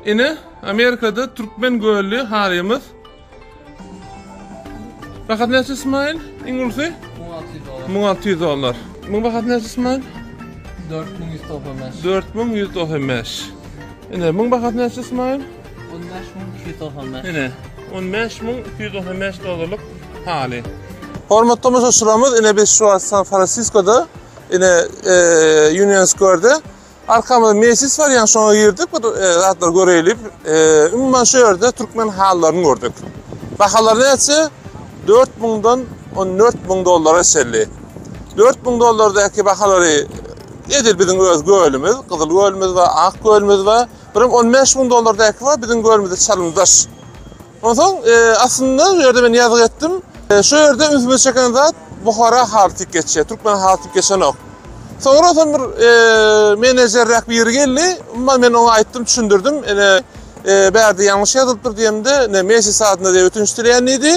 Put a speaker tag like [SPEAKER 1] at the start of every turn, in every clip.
[SPEAKER 1] Ine, Amerikada türkmen gölli harymyz. Bahat näçe Ismail? Iň ulusy? 1600 dollar. Muň bahat näçe Ismail?
[SPEAKER 2] 4195. 4195.
[SPEAKER 1] Ine, muň bahat näçe Ismail? 15295. Ine, 15295 dollarlyk haly. Hormatly tomaşaçylarymyz, ine biz şu wagt San Fransiskoda, ine e, Union Square-de Arkamyzda mejlis bar, ýa şoňa girdik, bir zatlar göreýlik. Umuman şu ýerde türkmen halylaryny gördük. Bahalary näçe? 4000 dan 14000 dollara çenli. 4000 dollardaky bahalary edil biziň öz gölümiz, gyzyl gölümiz we ak gölümiz we birim 15000 dollardaky we biziň gölümizde çalymdaş. Onsoň aslynda bu ýerde men ýazgy etdim. Şu ýerde ünsümi çeken zat Buhara haly tik geçýär, türkmen haly tik geçenok. Soňra onsoň bir menejerräk biri geldi. Umuman men oňa aýtdym, düşündirdim. Ine bärde ýalňyş ýazylypdyr diýemde, ne mejlis adyna diýip ötünç dileýän diýdi.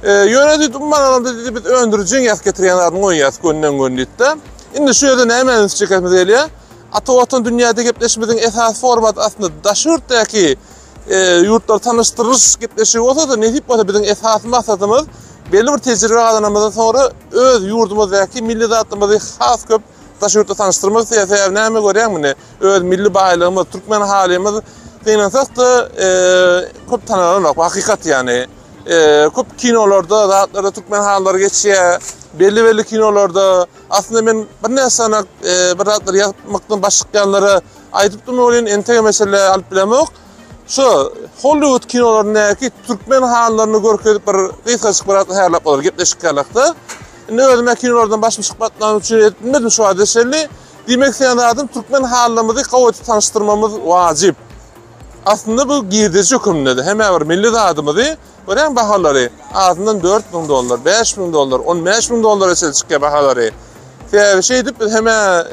[SPEAKER 1] Ýöne diýdi, umuman alanda diýdi, biz öndürijiň ýazyp getirýän zadyny goýýarys gönden-gön diýdi-de. Indi şu ýerde nämä üns çekesimiz gelýär? Ata Watan dünýäde gepleşimiziň esasy formaty aslynda daşy ýurtdaky e, ýurtlar tanyşdyryş gepleşigi bolsa-da, nesip bolsa biziň esasy maksadymyz belli bir tejribe gazanamyzdan sonra öz ýurdumyzdaky milli zatlymyzy has köp daş ýurtda tanyşdyrmak isleýär. Sebäbi näme görýän muny? Öz milli baýlygymyz, türkmen halymyz gynansak-da e, köp tanalanok. Hakykat ýany. E, köp kinolarda, zatlarda türkmen hallary geçýär. Belli belli kinolarda aslynda men bir näçe sanak e, bir zatlar ýazmykdan başykýanlara Aýdyp durma welin entek mesele alyp bilemok. Şu Hollywood kinolaryndaky türkmen hanlaryny görkezip bir gysgaçyk bir atlahärlap bolar gepleşik ýalakda. Indi özüme kinolardan başym çykmatlany üçin edip bilmedim şu wagta şelli. Diýmek isleýän zadym türkmen hanlarymyzy gowy edip tanyşdyrmamyz wajyp. Aslynda bu girdeji höküminde-de hemä bir milli zadymyzy Örän bahalary, azyndan dört müň dollar, bäş müň dollar, on bäş müň dollara çenli çykýar bahalary. Sebäbi şeýdip biz hemä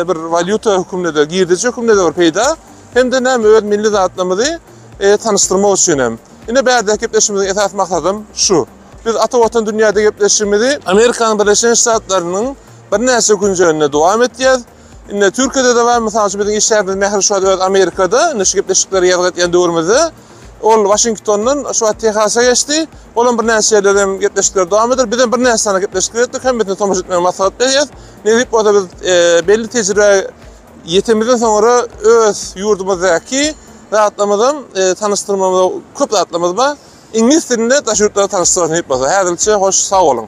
[SPEAKER 1] bir walýuta höküminde, girdejä höküminde bir peýda, hem-de näme öz milli zatlarymyzy tanyşdyrmak üçin hem. Ine bärdäki gepleşigimiziň esas maksadym şu. Biz Ata Watan dünýäde gepleşigimizi Amerikanyň Birleşen Ştatlarynyň birnäçe künjeginde dowam etýäs. Indi Türkiýede-de bar, mysal üçin biziň işgärimiz Mähri şu wagt öz Amerikada, indi şu gepleşikleri ýazgy etýän döwrümizde. Ol Waşingtondan şu wagt Tehasa geçdi. Ol hem birnäçe ýerlerde hem gepleşikleri dowam eder. Biz hem birnäçe sany gepleşikler etdik, hemmesini tomaşa etmäge maslahat berýäs. Nesip bolsa biz belli tejribä ýetemizden soňra öz ýurdumyzdaky zatlarymyzy hem tanyşdyrmaga köp zatlarymyz bar. Iňlis dilinde daş ýurtlara tanyşdyrar nesip bolsa. Häzirlikçe hoş, sag boluň!